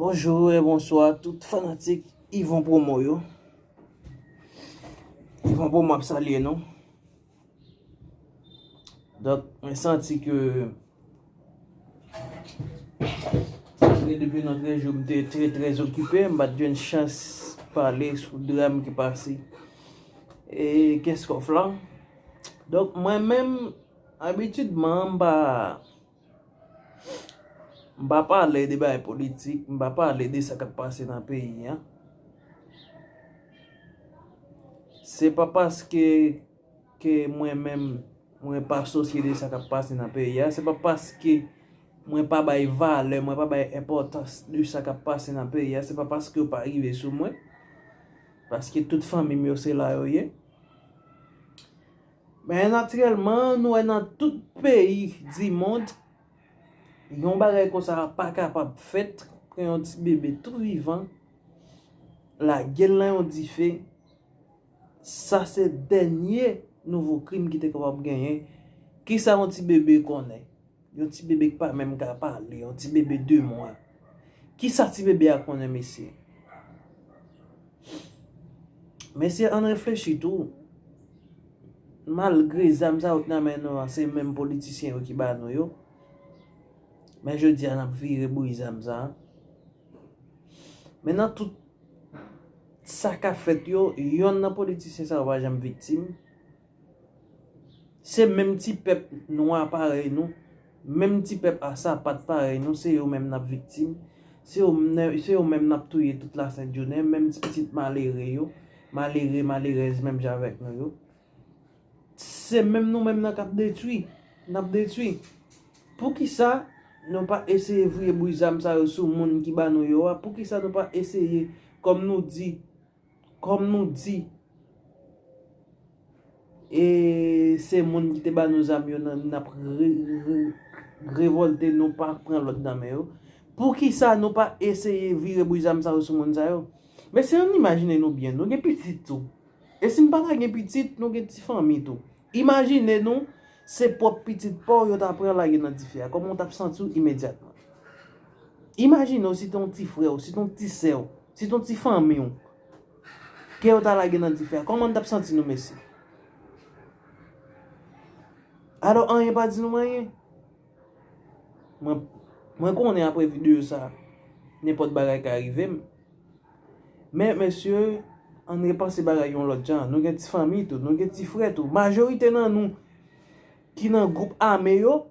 Bonjour et bonsoir tout fanatik Yvon Promo yo. Yvon Promo ap salye nou. Dok, mwen santi ke se depi nan trè jou mte trè trè zokipe, m bat jwenn chans pale sou dram ki pase e kèskof lan. Dok, mwen menm Abitidman, m pa M pa pale de bagay politik, m pa pale de sa k ap pase nan peyi an. Se pa paske ke mwen menm mwen pa sosye de sa k ap pase nan peyi an, se pa paske mwen pa bay valè, mwen pa bay enpòtans de sa k ap pase nan peyi an, se pa paske yo pa rive sou mwen, paske tout fanmi m yo se la yo ye. Men natirèlman, nou wè nan tout peyi dimond, yon bagay konsa a pa kapab fèt, pran yon ti bebe tou vivan, lage l nan yon dife, sa se dènye nouvo krim ki te kapab genyen. Kisa yon ti bebe konnen? Yon ti bebe ki pa menm ka pale, yon ti bebe 2 mwa. Ki sa ti bebe a konnen mesye? Mesye ann reflechi tou. Malgre zam sa yo k nan men nou an, se menm politisyen yo ki ba nou yo. Men jodi a n ap vire bri zam sa. Men nan tout sa k ap fèt yo, yonn nan politisyen sa yo pa janm viktim. Se menm ti pèp nwa parèy nou, menm ti pèp a sapat parèy nou, se yo menm n ap viktim, se yo menm n ap touye tout lasentjounen, menm ti pitit malere yo, malere, malerèz menm jan avèk nou yo. Se menm nou menm nan k ap detwi, n ap detwi. Pou ki sa nou pa eseye vwe bouyi zam sa yo sou moun ki ba nou yo a? Pou ki sa nou pa eseye, kòm nou di? Kòm nou di e se moun ki te ba nou zam yo n ap revolte nou pa pran lòd nan men yo. Poukisa nou pa eseye vire bouch zam sa yo sou moun sa yo? Mesye ann imajine nou byen, nou gen pitit tou. E si n pa ta gen pitit, nou gen ti fanmi tou. Imajine nou, se pwòp pitit pa w yo ta pran lage nan dife a, kòman w t ap santi w imedyatman? Imajine w si te yon ti frè w, si te yon ti sè w, si te yon ti fanmi w, ke yo ta lage nan dife a, kòman n t ap santi nou mesye? Alò anyen pa di nou anyen. Mwen konnen apre video sa, nenpòt bagay ka rive m. Men mesye, ann repanse bagay yon lòt jan. Nou gen ti fanmi tou, nou gen ti frè tou. Majorite nan nou ki nan gwoup ame yo.